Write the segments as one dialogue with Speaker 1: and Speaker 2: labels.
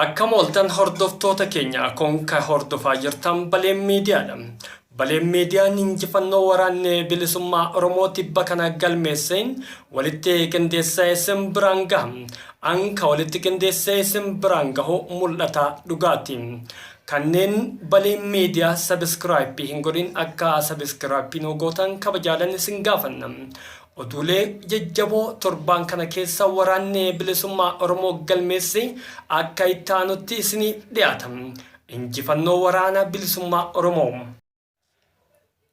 Speaker 1: Akkam ooltan hordoftoota keenya Kun ka hordofaa jirtan Baleen Miidiyaa dha. Baleen Miidiyaan injifannoo waraanni bilisummaa Oromoo tibba kana galmeesse walitti qindeessee isin biraan gaha. An ka walitti qindeessee isin biraan gahu mul'ata dhugaati. Kanneen Baleen Miidiyaa sabiskiraayipii hin godhin akka sabiskiraayipii nuu gootan kabajaadan isin gaafanna. Oduulee jajjaboo torbaan kana keessa Waraanni Bilisummaa Oromoo galmeesse akka itti aanutti isiniif dhiyaata. Injifannoo Waraana Bilisummaa Oromoo!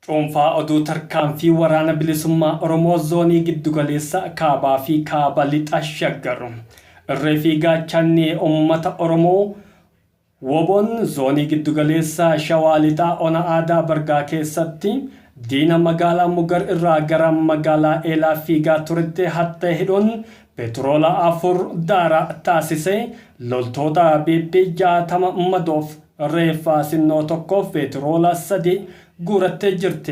Speaker 1: Cuunfaa Oduu Tarkaanfii Waraana Bilisummaa Oromoo Zoonii Giddugaleessa, Kaabaa fi Kaaba Lixa Shaggar. Irree fi Gaachanni Ummata Oromoo! Wbon Zoonii Giddugaleessa Shawaa Lixaa Ona Aadaa Bargaa keessatti diina magaalaa Mugar irraa gara magaalaa Eelaa fiigaa turetti hattee hidhuun petroola 4 daaraa taasise, loltoota pp 60 madoof reeffa sinnoo 1 fi petroola 3 guurattee jirti.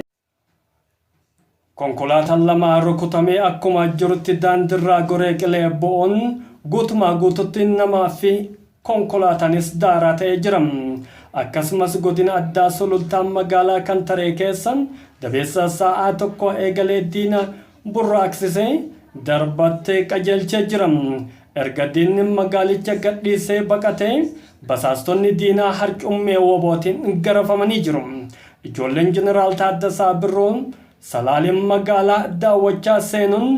Speaker 1: Konkolaataan lama rukutamee akkuma jirutti daandirraa goree qilee bo'oon guutumaa guututti namaa fi konkolaataanis daaraa ta'ee jira. Akkasumas godina addaa Sulultaa magaalaa Kantaree keessa dabeessa sa'aa tokkoo eegalee diina burraaqsisee darbattee qajeelchee jira. Erga diinni magaalicha gadhiisee baqatee basaastonni diinaa harcummee WBOtiin garafamanii jiru. Ijoolleen Jeneraal Taaddasaa Birruu Salaaleen magaalaa daawwachaa seenuun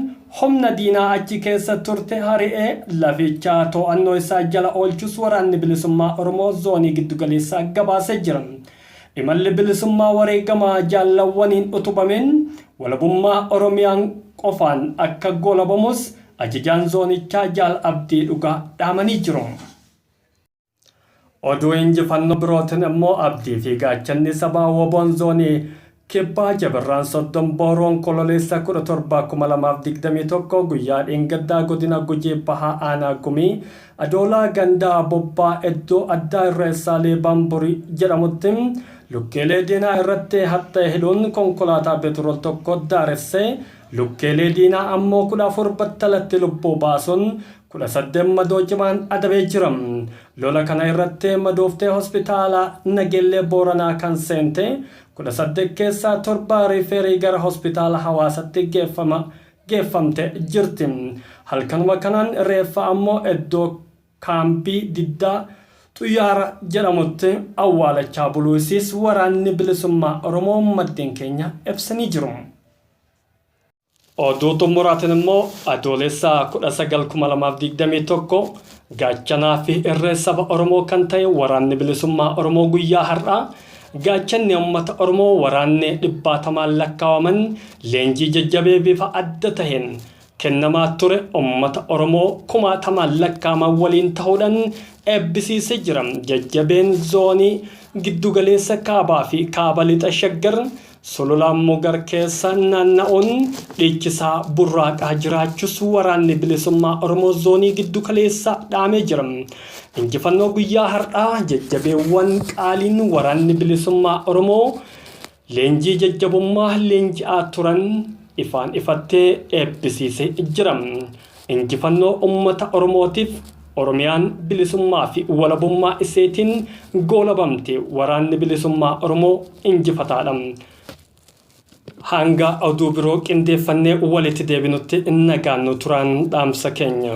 Speaker 1: humna diinaa achi keessa turte hari'ee laficha to'annoo isaa jala oolchuus Waraanni Bilisummaa Oromoo Zoonii Giddugaleessaa gabaasee jira. Imalli bilisummaa wareegama jaallawwaniin utubameen walabummaa Oromiyaan qofaan akka goolabamus Ajajaan Zoonichaa Jaal Abdii Dhugaa dhaamanii jiru. Oduu injifannoo birootin immoo Abdii fi Gaachanni Sabaa WBOn Zoonii Kibbaa Jabarraan 30 Boru Onkololeessa 17,2021 guyyaa dheengaddaa godina Gujii Bahaa Aanaa Gumii Adoolaa ganda Bobbaa eddoo addaa Irreessaa Leebaan Burii jedhamutti lukkeelee diinaa irratti haxxee hidhuun konkolaataa Beturool tokko daaressee lukkeelee diinaa ammoo 14 battalatti lubbuu baasuun 18 madoo cimaan adabee jira. Lola kana irratti madooftee hospitaala Nageellee Booranaa kan seente 18 keessaa 7 riifeerii gara hospitaala Hawaasatti geeffama geeffamte jirti. Halkanuma kanaan reeffa ammoo eddoo kaambii Diddaa Xuyyaara jedhamutti awwaalachaa buluu isiis Waraanni Bilisummaa Oromoo maddeen keenya ibsanii jiru. Oduu xumuraatiin immoo Adoolessa 19,2021 gaachanaa fi irree saba Oromoo kan ta'e Waraanni Bilisummaa Oromoo guyyaa har'aa gaachanni uummata Oromoo waraanni dhibbaatamaan lakkaawaman leenjii jajjabee bifa adda taheen kennamaa ture uummata Oromoo kumaatamaan lakkaawaman waliin tahuudhaan eebbisiisee jira. Jajjabeen Zoonii Giddugaleessa Kaabaa fi Kaaba Lixa Shaggar Sulula Mugar keessa naanna'uun dhiichisaa burraaqaa jiraachus waraanni bilisummaa Oromoo zoonii giddu kaleessaa dhaamee jira. Injifannoo guyyaa har'aa jajjabeewwan qaaliin waraanni bilisummaa Oromoo leenjii jajjabummaa leenji'aa turan ifaan ifattee eebbisiisee jira. Injifannoo ummata Oromootiif! Oromiyaan bilisummaa fi walabummaa iseetiin goolabamte! Waraanni Bilisummaa Oromoo injifataa dha! Hanga oduu biroo qindeeffannee walitti deebinutti nagaan nu turaan dhaamsa keenya.